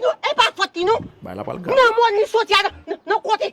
Non e pa fòt li non. Bay la pral grav. Nan mòn li soti a nan kote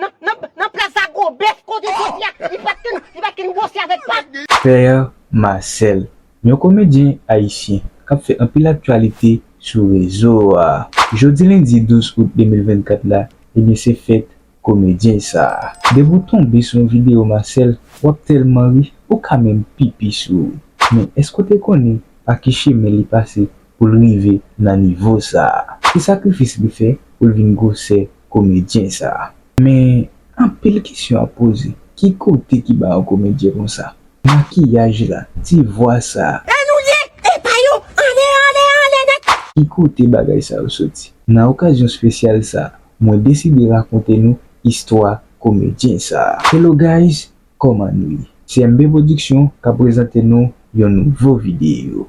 nan plas a gwo bèf kote soti a li pat konn li pat konn gwose avèk pa. Père Marcel, yon komedyen ayisyen k ap fè anpil aktyalite sou rezo a. Jodi lendi 12 out 2024 la, ebyen se fèt komedyen sa a. Depi w tonbe sou yon videyo Marcel, w ap tèlman ri, ou ka menm pipi sou ou. Men, èske w te konnen pa ki chemen li pase pou l rive nan nivo sa a. Se sakrifis li fè pou l vin gwosè komedyen sa a. Men, anpil kesyon ap poze, ki kote ki ba yon komedyen konsa? Makiyaj la, ti vwa sa a. La nou ye! Epa yo! Anlè, anlè, anlè nèt! Ki kote bagay sa yo soti? Nan okazyon spesyal sa a, mwen deside rakonte nou istwa komedyen sa a. Hello guys, kòman nou ye? CMB Production ka prezante nou yon nouvo videyo.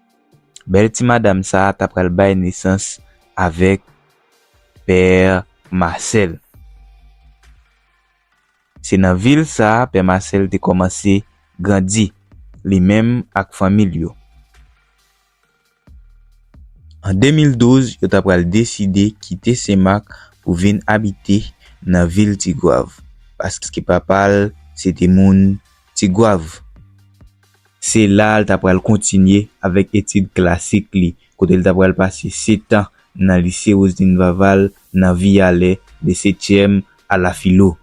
Bèl ti madam sa ta pral bay nesans avèk pè Masèl. Se nan vil sa pè Masèl te kòmanse grandi, li menm ak fanmi l yo. An 2012, yo ta pral deside kite Senmak pou vin abite nan vil Tigwav, paske papa l se te moun Tigwav. Se la a l ta pral kontinye avèk etid klasik li, kote l ta pral pase setan nan Lise Roseline Vaval nan Viyalè, de setyèm a la filo.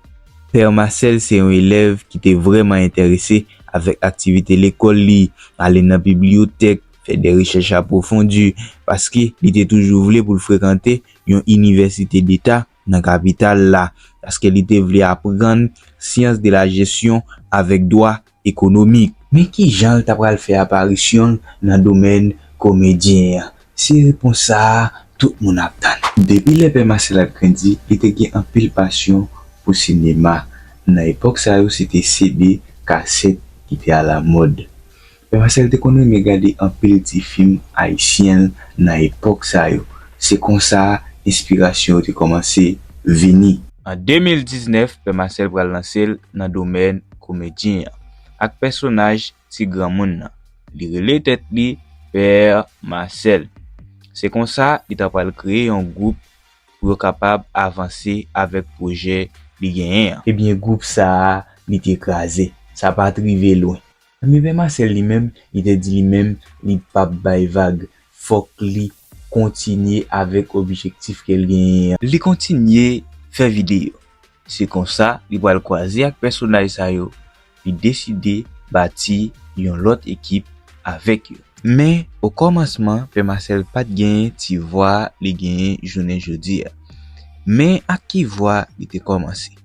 Pè Masèl se yon elèv ki te vrèman enterese avèk aktivite lekòl li, ale nan bibliyotèk, fè de rechèch apwofondi, paske li te toujou vle pou l frekante yon inivèsite deta, nan kapital la, paske li te vle aprann syans de la jesyon avèk dwa ekonomik. Men ki jan l ta pral fè aparisyon l nan domèn komedyen an? Se repons sa a tout moun ap tann. Depi lè pè Masèl ap grandi, li te gen anpil pasyon pou sinema. Nan epòk sa yo se te CD, kasèt, ki te alamòd. Marcel te konn renmen gade anpil ti fim ayisyen nan epòk sa yo. Se konsa enspirasyon yo te kòmanse vini. An 2019, Pè Marcel pral lanse l nan domèn komedyen an ak pèsonaj ti granmoun nan. Li rele tèt li Père Marcel. Se konsa li ta pral kreye yon gwoup pou yo kapab avanse avèk pwojè li genyen an. Ebyen gwoup sa a li te kraze. Sa pa t rive lwen. Anben pè Masèl li menm li te di li menm li pap bay vag fòk li kontinye avèk objektif kel genyen an. Li kontinye fè videyo. Se konsa li pral kwaze ak pèsonaj sa yo, li deside bati yon lòt ekip avèk yo. Men o kòmansman pè Masèl pat genyen ti vwa li genyen jounen jodi a. Men ak ki vwa li te kòmanse.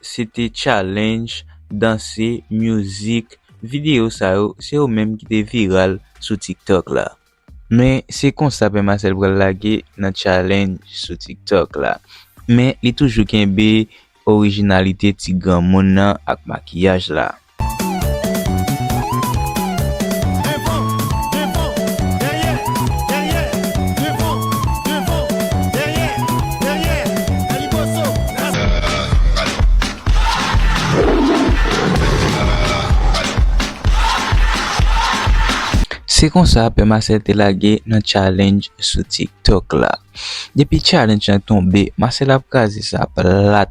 se te challenge, danse, music, video sa yo se yo menm ki te viral sou tiktok la. Men se konsa Pè Masèl pral lage nan challenge sou tiktok la. Men li toujou kenbe orijinalite ti granmoun nan ak makiyaj la. Se konsa pè Masèl te lage nan challenge sou tiktok la. Depi challenge lan tonbe Masèl ap kraze sa plat.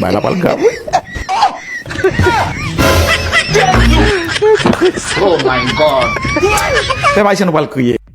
Bagay la pral grav wi.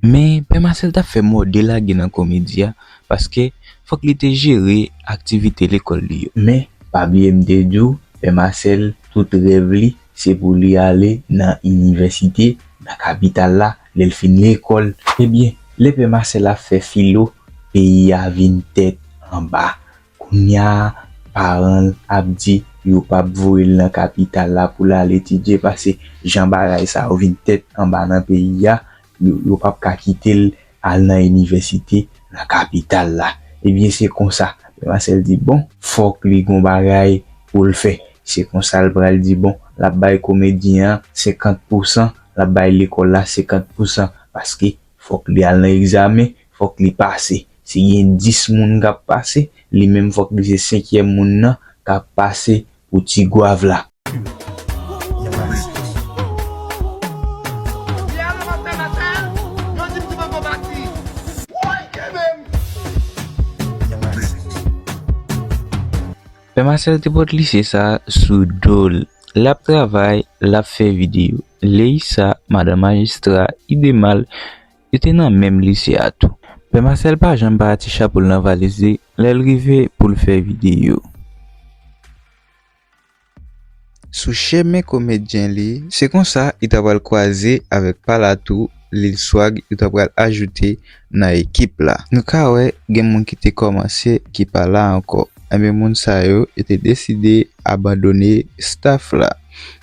Men Pè Masèl t ap fè mòde lage nan komedi a paske fòk li te jere aktivite lekòl li yo. Men pa bliye m te di w Pè Masèl tout rèv li Se pou li ale nan inivèsite, nan kapital la, lè l fin lekòl. Ebyen, lè pè Masèl ap fè filo, peyi a vin tèt anba. Kounya a, paran l ap di yo pa p voye l nan kapital la pou l al etidye pase jan bagay sa yo vin tèt anba nan peyi a, Yo pap ka kite l al nan inivèsite nan kapital la. Ebyen se konsa. Pè Masèl di bon. Fòk li gon bagay pou l fè. Se konsa l pral di bon, l ap bay komedyen an senkant pousan, l ap bay lekòl la senkant pousan. Paske fòk li al nan egzamen, fòk li pase. Si gen dis moun k ap pase, li menm fòk li se senkyèm moun nan k ap pase pou ti gwav la. Pè Masèl te pot lise sa sou do l. L ap travay, l ap fè videyo. Leyisa, madan majistra, ide mal, Yo te nan menm lise a tou. Pè Masèl pa janm pa ti chapo l nan valiz li lè l rive pou l fè videyo. Sou chemen komedyen li. Se konsa li ta pral kwaze avèk pa l a tou, Lil Swag, yo ta pral ajoute nan ekip la. Nou ka wè gen moun ki te kòmanse ki pa la ankò. Enben moun sa yo, yo te deside abandone staff la.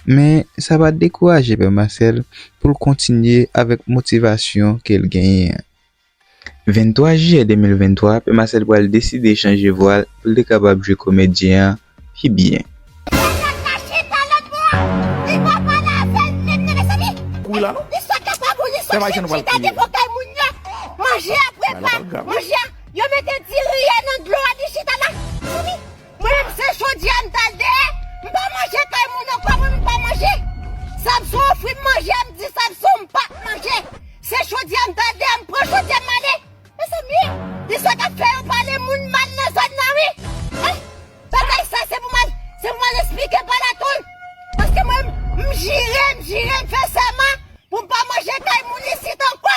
Men sa pa t dekouraje pè Masèl pou l kontinye avèk motivasyon ke l genyen an. 23 jiyè 2023, pè Masèl pral deside chanje vwa l pou l te kapab jwe komedyen an pi byen. Mwen menm se jodi a m tal dèyè m pa manje kay moun ankò mwen menm m pa manje Samson ofri m manje m di Samson m pa k manje se jodi a m tal dèyè m pran jodi a m ale Mezanmi li sot ap fè yo pale moun mal nan zòn nan wi eh bagay sa se pou m al se pou m al esplike pa latonn paske mwen menm m jire m jire m fè sèman pou m pa manje kay moun isit ankò.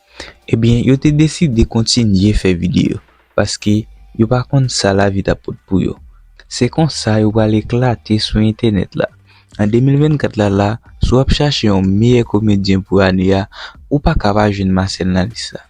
Ebyen yo te deside kontinye fè videyo paske yo pa konn sa lavi t ap pot pou yo. Se konsa yo pral eklate sou entènèt la. An 2024 la la, si w ap chache yon meyè komedyen pou ane a, ou pa ka pa jwenn Marcel nan lis la.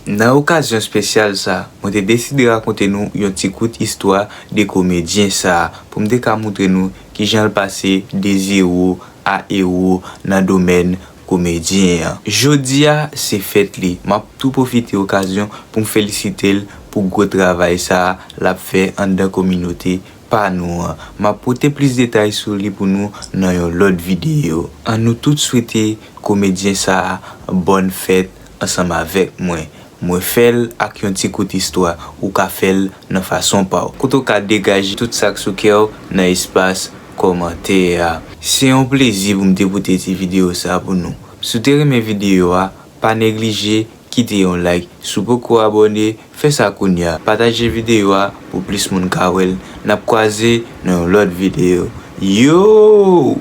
Nan okazyon spesyal sa, mwen te deside rakonte nou yon ti kout istwa de komedyen sa pou m te ka moutre nou kijan l pase de zewo a ewo nan domèn komedyen an. Jodi a se fèt li, m ap tou pwofite okazyon pou m felisite l pou gwo travay sa l ap fè anndan kominote pa nou an. M ap pote plis detay sou li pou nou nan yon lòt videyo. An nou tout swete komedyen sa bòn fèt ansanm avèk mwen. Mwen fè l ak yon ti kout istwa, ou ka fè l nan fason pa w. Kote w ka degaje tout sa k sou kè w nan espas kòmantè a. Se yon plezi pou m te pote ti videyo sa pou nou. Si w te renmen videyo a, pa neglije kite yon like. Si w poko abòne, fè sa kounya. Pataje videyo a pou plis moun ka wè l. N ap kwaze nan yon lòt videyo. Yoo!